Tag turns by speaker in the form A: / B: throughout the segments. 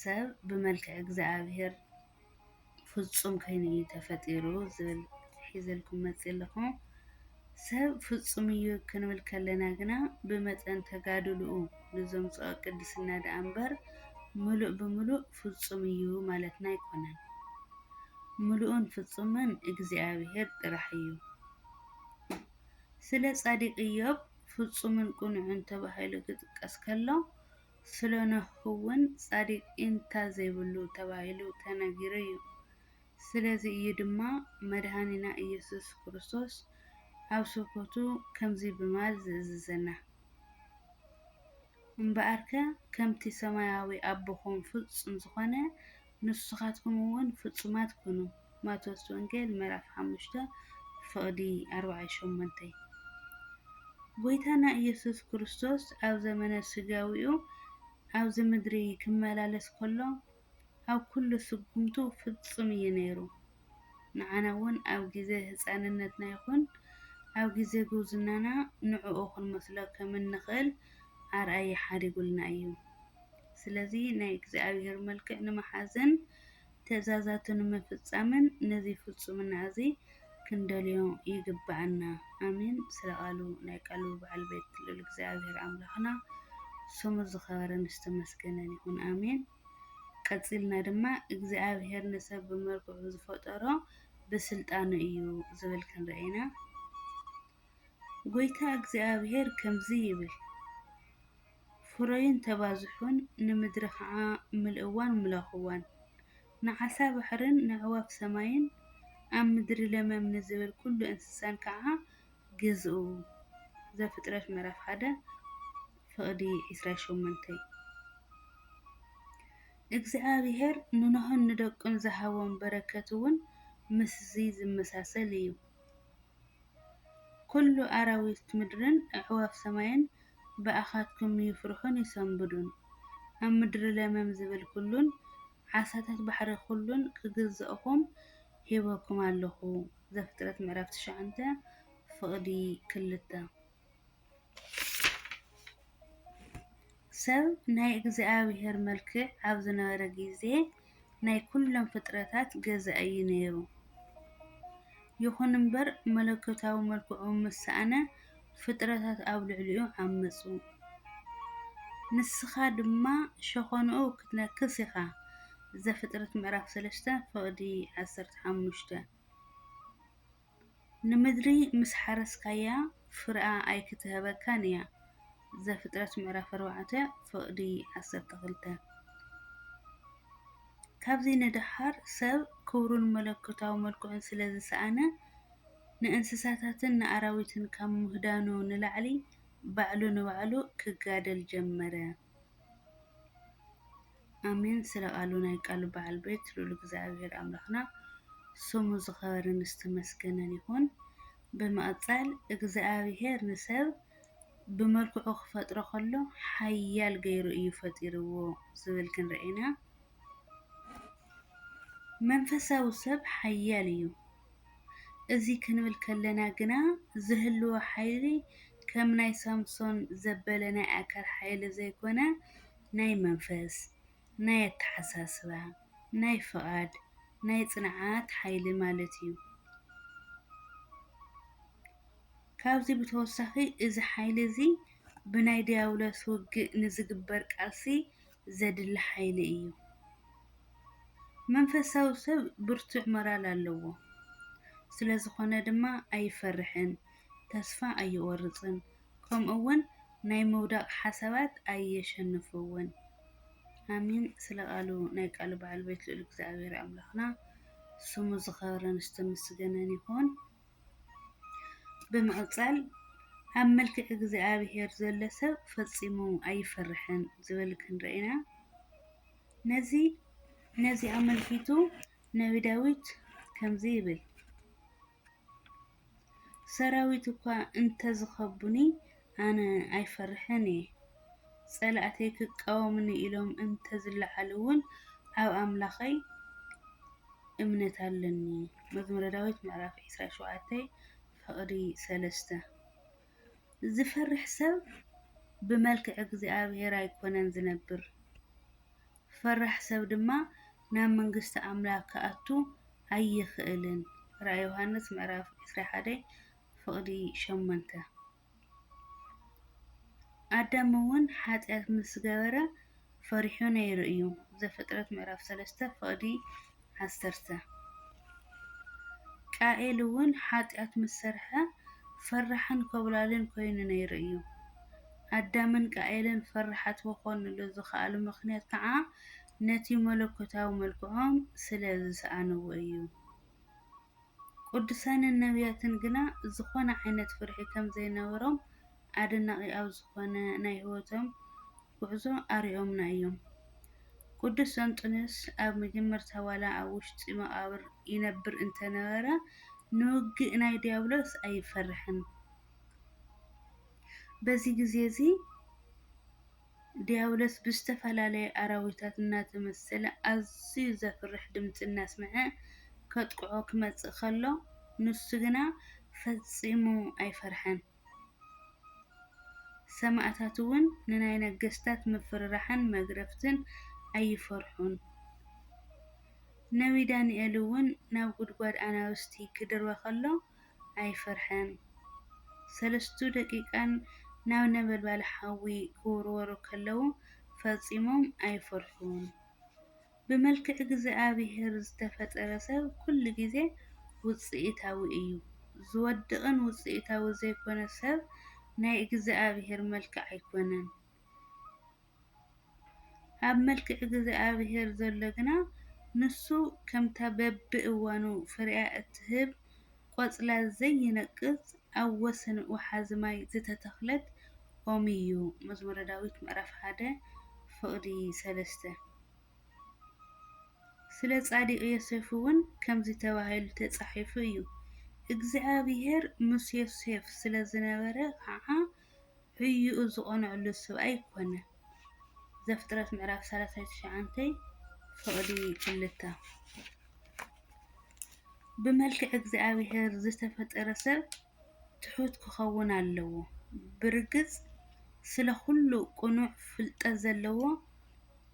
A: ሰብ ብመልክዕ እግዚኣብሔር ፍፁም ኮይኑ እዩ ተፈጢሩ ዝብል ሒዘልኩም መፂእ ኣለኹ። ሰብ ፍፁም እዩ ክንብል ከለና ግና ብመጠን ተጋድልኡ ንዘምፅኦ ቅድስና ደኣ እምበር ምሉእ ብምሉእ ፍፁም እዩ ማለትና ኣይኮነን። ምሉእን ፍፁምን እግዚኣብሔር ጥራሕ እዩ። ስለ ፃዲቅ እዮብ ፍፁምን ቅኑዕን ተባሂሉ ክጥቀስ ከሎ፣ ስለኖህ'ውን ጻዲቅ ኢንታ ዘይብሉ ተባሂሉ ተነጊሩ'ዩ። ስለዚ እዩ ድማ መድኃኒና ኢየሱስ ክርስቶስ ኣብ ስብከቱ ከምዚ ብማል ዝእዝዘና፣ እምበኣርከ ከምቲ ሰማያዊ ኣቦኹም ፍጹም ዝኾነ፣ ንስኻትኩም እውን ፍጹማት ኩኑ። ማቴዎስ ወንጌል ምዕራፍ ሓሙሽተ ፍቕዲ ኣርባዓይ ሸሞንተይ ጎይታና ኢየሱስ ክርስቶስ ኣብ ዘመነ ስጋዊኡ ኣብዚ ምድሪ ክመላለስ ከሎ ኣብ ኩሉ ስጉምቱ ፍጹም እዩ ነይሩ። ንዓና ውን ኣብ ግዜ ህጻንነትና ይኹን ኣብ ግዜ ጉብዝናና ንዕኡ ክንመስሎ ከም እንኽእል ኣርኣያ ሓዲጉልና እዩ። ስለዚ ናይ እግዚኣብሔር መልክዕ ንምሓዝን ትእዛዛቱ ንምፍጻምን ነዚ ፍጹምና እዚ ክንደልዮ ይግብኣና። ኣሜን ስለ ቃሉ ናይ ቃሉ በዓል ቤት ልዑል እግዚኣብሔር ኣምላኽና ስሙ ዝኸበረን ዝተመስገነን ይኹን ኣሜን። ቀጺልና ድማ እግዚኣብሔር ንሰብ ብመልክዑ ዝፈጠሮ ብስልጣኑ እዩ ዝብል ክንርኢ ኢና። ጎይታ እግዚኣብሔር ከምዚ ይብል ፍረዩን ተባዝሑን ንምድሪ ኸዓ ምልእዋን ምለኹዋን ንዓሳ ባሕርን ነዕዋፍ ሰማይን ኣብ ምድሪ ለመም ንዝብል ኩሉ እንስሳን ከዓ ግዝኡ፣ ዘፍጥረት ምዕራፍ ሓደ ፍቕዲ ዕስራን ሸሞንተን፣ እግዚኣብሄር ንኖህን ንደቁን ዝሃቦም በረከት እውን ምስዚ ዝመሳሰል እዩ። ኵሉ ኣራዊት ምድርን ኣዕዋፍ ሰማይን ብኣኻትኩም ይፍርሑን ይሰንብዱን፣ ኣብ ምድሪ ለመም ዝብል ኵሉን ዓሳታት ባሕሪ ኵሉን ክግዝእኹም ሂበኩም ኣለኹ። ዘፍጥረት ምዕራፍ ትሽዓተ ፍቕዲ ክልተ ሰብ ናይ እግዚኣብሔር መልክዕ ኣብ ዝነበረ ጊዜ ናይ ኩሎም ፍጥረታት ገዛ እዩ ነይሩ። ይኹን እምበር መለኮታዊ መልክዑ ምስ ሰኣነ ፍጥረታት ኣብ ልዕሊኡ ዓመጹ። ንስኻ ድማ ሸኾናኡ ክትነክስ ኢኻ። ዘፍጥረት ምዕራፍ ሰለስተ ፍቕዲ ዓሰርተ ሓሙሽተ። ንምድሪ ምስ ሓረስካያ ፍረኣ ኣይክትህበካን እያ። ዘፍጥረት ምዕራፍ ኣርባዕተ ፍቕዲ ዓሰርተ ክልተ። ካብዚ ንደሓር ሰብ ክብሩን መለኮታዊ መልክዑን ስለ ዝሰኣነ ንእንስሳታትን ንኣራዊትን ካብ ምሁዳኑ ንላዕሊ ባዕሉ ንባዕሉ ክጋደል ጀመረ። ኣሜን ስለ ቃሉ ናይ ቃሉ በዓል ቤት ልኡል እግዚኣብሔር ኣምላኽና ስሙ ዝኸበረን ዝተመስገነን ይኹን። ብምቕጻል እግዚኣብሔር ንሰብ ብመልክዑ ክፈጥሮ ከሎ ሓያል ገይሩ እዩ ፈጢርዎ ዝብል ክንርኢ ኢና። መንፈሳዊ ሰብ ሓያል እዩ። እዚ ክንብል ከለና ግና ዝህልዎ ሓይሊ ከም ናይ ሳምሶን ዘበለ ናይ ኣካል ሓይሊ ዘይኮነ ናይ መንፈስ፣ ናይ ኣተሓሳስባ፣ ናይ ፍቓድ፣ ናይ ፅንዓት ሓይሊ ማለት እዩ። ካብዚ ብተወሳኺ እዚ ሓይሊ እዚ ብናይ ዲያብሎስ ውግእ ንዝግበር ቃልሲ ዘድሊ ሓይሊ እዩ። መንፈሳዊ ሰብ ብርቱዕ ሞራል ኣለዎ፣ ስለ ዝዀነ ድማ ኣይፈርሕን፣ ተስፋ ኣይቖርጽን፣ ከምኡውን ናይ ምውዳቕ ሓሳባት ኣየሸንፎዎን። ኣሜን ስለ ቃሉ ናይ ቃሉ በዓል ቤት ልኡል እግዚኣብሔር ኣምላኽና ስሙ ዝኸበረን ዝተመስገነን ይኹን። ብምቕጻል ኣብ መልክዕ እግዚኣብሔር ዘሎ ሰብ ፈጺሙ ኣይፈርሕን ዝብል ክንርኢ ኢና። ነዚ ነዚ ኣመልኪቱ ነቢ ዳዊት ከምዚ ይብል ሰራዊት እኳ እንተዝኸቡኒ ኣነ ኣይፈርሕን እየ። ጸላእተይ ክቃወሙኒ ኢሎም እንተ ዝለዓሉ እውን ኣብ ኣምላኸይ እምነት ኣሎኒ። መዝሙረ ዳዊት ምዕራፍ ዕስራን ሸውዓተን ፍቕዲ ሰለስተ። ዝፈርሕ ሰብ ብመልክዕ እግዚኣብሔር ኣይኮነን ዝነብር፣ ፈራሕ ሰብ ድማ ናብ መንግስቲ ኣምላኽ ክኣቱ ኣይኽእልን። ራእይ ዮሃንስ ምዕራፍ ዕስራን ሓደን ፍቕዲ ሸሞንተ። ኣዳም እውን ሓጢኣት ምስ ገበረ ፈሪሑ ነይሩ እዩ። ዘፍጥረት ምዕራፍ ሰለስተ ፍቕዲ ዓሰርተ። ቃኤል እውን ሓጢኣት ምስ ሰርሐ ፈራሕን ኮብላልን ኮይኑ ነይሩ እዩ። ኣዳምን ቃኤልን ፈራሓት ክኾንሉ ዝኸኣሉ ምኽንያት ከዓ ነቲ መለኮታዊ መልክዖም ስለ ዝሰኣንዎ እዩ። ቅዱሳንን ነብያትን ግና ዝኾነ ዓይነት ፍርሒ ከም ዘይነበሮም ኣደናቒ ኣብ ዝኾነ ናይ ሕይወቶም ጕዕዞ ኣርእዮምና እዮም። ቅዱስ እንጦንዮስ ኣብ መጀመርታ ዋላ ኣብ ውሽጢ መቓብር ይነብር እንተ ነበረ ንውግእ ናይ ድያብሎስ ኣይፈርሕን። በዚ ግዜ እዚ፣ ድያብሎስ ብዝተፈላለየ ኣራዊታት እናተመሰለ ኣዝዩ ዘፍርሕ ድምጺ እናስምዐ ከጥቅዖ ክመጽእ ከሎ፣ ንሱ ግና ፈጺሙ ኣይፈርሐን። ሰማእታትውን ንናይ ነገስታት ምፍርራሕን መግረፍትን ኣይፈርሑን። ነብዪ ዳንኤልውን ናብ ጕድጓድ ኣናብስቲ ክድርበ ኸሎ፣ ኣይፈርሐን። ሰለስቱ ደቂቐን ናብ ነበልባል ሓዊ ክውርወሩ ከለዉ ፈጺሞም ኣይፈርሑን። ብመልክዕ እግዝኣብሄር ዝተፈጠረ ሰብ ኩሉ ግዜ ውጽኢታዊ እዩ። ዝወድቕን ውጽኢታዊ ዘይኮነ ሰብ ናይ እግዝኣብሄር መልክዕ ኣይኮነን። ኣብ ምልኪ እግዝኣብሄር ዘሎ ግና ንሱ ከምታ በብእዋኑ ፍሪኣ እትህብ ቆጽላ ዘይነቅጽ ኣብ ወሰን ወሓዚ ማይ ዝተተኽለት ኦም እዩ። መዝሙረ ዳዊት ምዕራፍ ሓደ ፍቕዲ ሰለስተ። ስለ ጻዲቕ ዮሴፍ እውን ከምዚ ተባሂሉ ተጻሒፉ እዩ፣ እግዚኣብሄር ምስ ዮሴፍ ስለ ዝነበረ ኸኣ፣ ህዩኡ ዝቐንኣሉ ሰብኣይ ኮነ። ዘፍጥረት ምዕራፍ ሰላሳይ ትሽዓንተይ ፍቕዲ ክልተ። ብመልክዕ እግዚኣብሔር ዝተፈጠረ ሰብ ትሑት ክኸውን ኣለዎ። ብርግጽ ስለ ኩሉ ቅኑዕ ፍልጠት ዘለዎ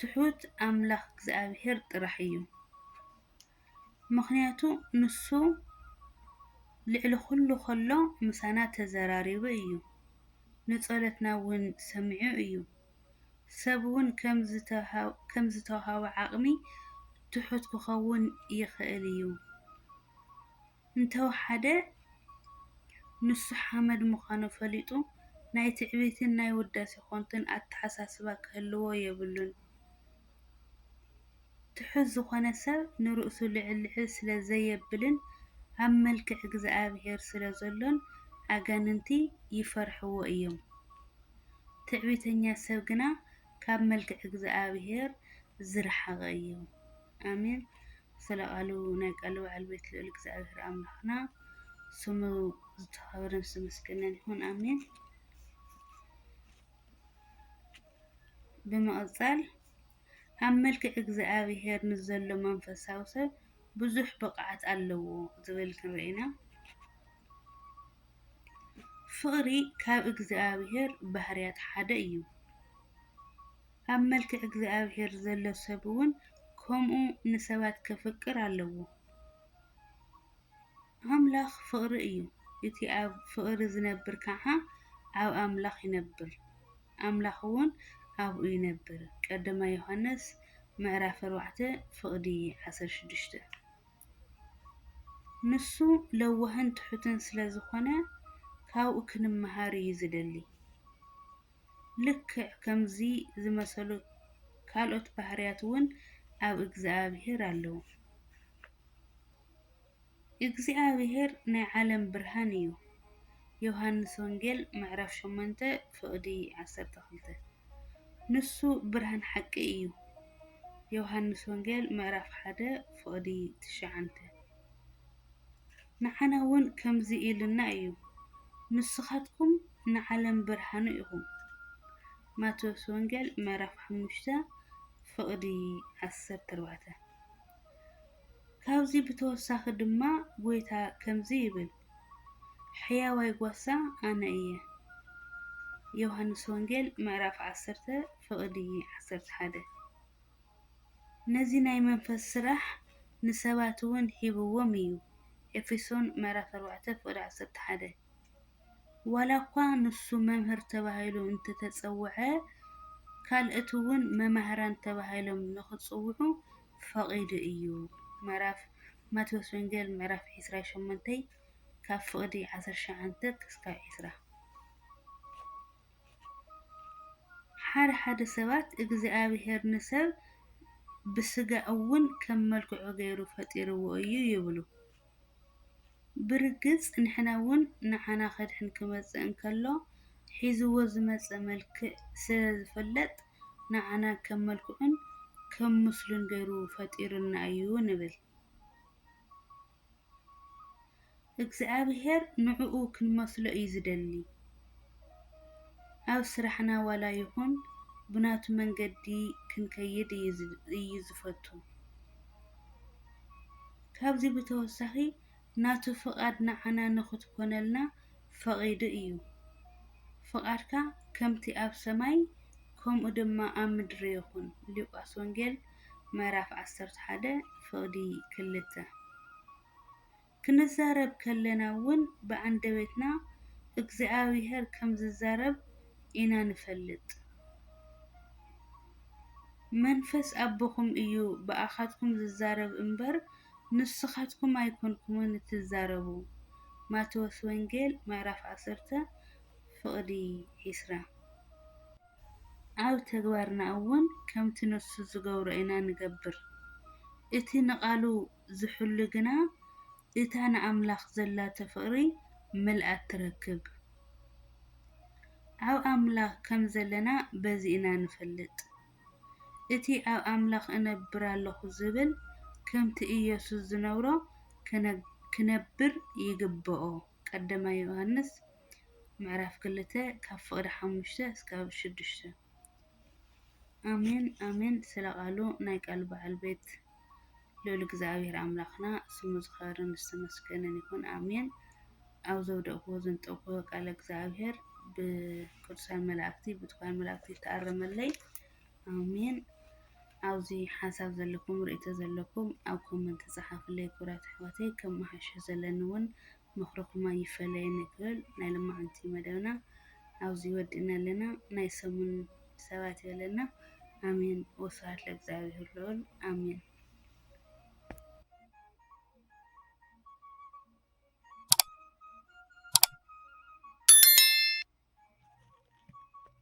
A: ትሑት ኣምላኽ እግዚኣብሔር ጥራሕ እዩ። ምኽንያቱ ንሱ ልዕሊ ኹሉ ከሎ ምሳና ተዘራሪቡ እዩ። ንጸሎትና እውን ሰሚዑ እዩ። ሰብ እውን ከም ዝተውሃቦ ዓቕሚ ትሑት ክኸውን ይኽእል እዩ። እንተወሓደ ንሱ ሓመድ ምዃኑ ፈሊጡ ናይ ትዕቢትን ናይ ውዳሴ ኮንቱን ኣተሓሳስባ ክህልዎ የብሉን። ትሑት ዝኾነ ሰብ ንርእሱ ልዕል ልዕል ስለ ዘየብልን ኣብ መልክዕ እግዝኣብሄር ስለ ዘሎን ኣጋንንቲ ይፈርሕዎ እዮም። ትዕቢተኛ ሰብ ግና ካብ መልክዕ እግዝኣብሄር ዝረሓቐ እዩ። ኣሜን። ስለ ቃሉ ናይ ቃሉ በዓል ቤት ልዑል እግዚኣብሔር ኣምላክና ስሙ ዝተከበረን ዝተመስገነን ይኩን ኣሜን። ብምቕጻል ኣብ መልክዕ እግዚኣብሔር ንዘሎ መንፈሳዊ ሰብ ብዙሕ ብቕዓት ኣለዎ ዝብል ክንርኢ ኢና። ፍቕሪ ካብ እግዚኣብሔር ባህርያት ሓደ እዩ። ኣብ መልክዕ እግዚኣብሔር ዘሎ ሰብ እውን ከምኡ ንሰባት ከፍቅር ኣለዎ። ኣምላኽ ፍቕሪ እዩ፣ እቲ ኣብ ፍቕሪ ዝነብር ከዓ ኣብ ኣምላኽ ይነብር፣ ኣምላኽ እውን ኣብኡ ይነብር፣ ቀዳማይ ዮሐንስ ምዕራፍ ኣርባዕተ ፍቕዲ ዓሰርተ ሽዱሽተ። ንሱ ለዋህን ትሑትን ስለ ዝኾነ ካብኡ ክንመሃር እዩ ዝደሊ። ልክዕ ከምዚ ዝመሰሉ ካልኦት ባህርያት እውን ኣብ እግዚኣብሄር ኣለዉ። እግዚኣብሄር ናይ ዓለም ብርሃን እዩ፣ ዮሃንስ ወንጌል ምዕራፍ ሸሞንተ ፍቕዲ ዓሰርተ ክልተ። ንሱ ብርሃን ሓቂ እዩ፣ ዮሃንስ ወንጌል ምዕራፍ ሓደ ፍቕዲ ትሽዓተ። ንዓና ውን ከምዚ ኢሉና እዩ ንስኻትኩም ንዓለም ብርሃኑ ኢኹም ማቴዎስ ወንጌል ምዕራፍ ሓሙሽተ ፍቕዲ ዓሰርተ ኣርባዕተ ካብዚ ብተወሳኺ ድማ ጎይታ ከምዚ ይብል ሕያዋይ ጓሳ ኣነ እየ ዮሃንስ ወንጌል ምዕራፍ ዓሰርተ ፍቕዲ ዓሰርተ ሓደ ነዚ ናይ መንፈስ ስራሕ ንሰባት እውን ሂብዎም እዩ፣ ኤፌሶን ምዕራፍ ኣርባዕተ ፍቕዲ ዓሰርተ ሓደ። ዋላ እኳ ንሱ መምህር ተባሂሉ እንተ ተጸውዐ፣ ካልእት እውን መማህራን ተባሂሎም ንኽጽውዑ ፈቒዱ እዩ፣ ምዕራፍ ማቴዎስ ወንጌል ምዕራፍ ዕስራን ሸሞንተይ ካብ ፍቕዲ ዓሰርተ ሸውዓተ ክሳብ ዕስራ። ሓደ ሓደ ሰባት እግዚኣብሄር ንሰብ ብስጋ እውን ከም መልክዑ ገይሩ ፈጢርዎ እዩ ይብሉ፡፡ ብርግፅ ንሕና እውን ንዓና ከድሕን ክመፅእ እንከሎ ሒዝዎ ዝመፀ መልክዕ ስለዝፍለጥ ንዓና ከም መልክዑን ከም ምስሉን ገይሩ ፈጢሩና እዩ ንብል፡፡ እግዚኣብሄር ንዕኡ ክንመስሎ እዩ ዝደሊ። ኣብ ስራሕና ዋላ ይኹን ብናቱ መንገዲ ክንከይድ እዩ ዝፈቱ። ካብዚ ብተወሳኺ ናቱ ፍቓድ ንዓና ንኽትኮነልና ፈቒዱ እዩ። ፍቓድካ ከምቲ ኣብ ሰማይ ከምኡ ድማ ኣብ ምድሪ ይኹን፣ ሉቃስ ወንጌል ምዕራፍ ዓሰርተ ሓደ ፍቕዲ ክልተ ክንዛረብ ከለና እውን ብኣንደበትና እግዚኣብሔር ከም ዝዛረብ ኢና ንፈልጥ። መንፈስ ኣቦኹም እዩ ብኣኻትኩም ዝዛረብ እምበር ንስኻትኩም ኣይኮንኩምን እትዛረቡ። ማቴዎስ ወንጌል ምዕራፍ ዓሰርተ ፍቕዲ ዒስራ ኣብ ተግባርና እውን ከምቲ ንሱ ዝገብሮ ኢና ንገብር። እቲ ንቓሉ ዝሕሉ ግና እታ ንኣምላኽ ዘላቶ ፍቕሪ ምልኣት ትረክብ። ኣብ ኣምላኽ ከም ዘለና በዚ ኢና ንፈልጥ። እቲ ኣብ ኣምላኽ እነብር ኣሎኹ ዝብል ከምቲ ኢየሱስ ዝነብሮ ክነብር ይግበኦ፣ ቀዳማይ ዮሃንስ ምዕራፍ ክልተ ካብ ፍቕዲ ሓሙሽተ እስካብ ሽዱሽተ። ኣሜን ኣሜን ስለ ቃሉ ናይ ቃሉ በዓል ቤት ልዑል እግዚኣብሔር ኣምላኽና ስሙ ዝኸበረን ዝተመስገነን ይኹን ኣሜን። ኣብ ዘውደቕዎ ዘንጠቕዎ ቃለ እግዚኣብሔር ብቅዱሳን መላእክቲ ብትኳን መላእክቲ ይተኣረመለይ ኣሜን። ኣብዚ ሓሳብ ዘለኩም ርእቶ ዘለኩም ኣብ ኮመንት ጸሓፍለይ ክብራት ኣሕዋተይ ከም መሓሾ ዘለኒ እውን ምኽርኹም ኣይፈለየና ይበል ናይ ሎማዓንቲ መደብና ኣብዚ ወዲእና ኣለና ናይ ሰሙን ሰባት ይበለና ኣሜን ወስብሃት ለእግዚኣብሄር ልዑል ኣሜን።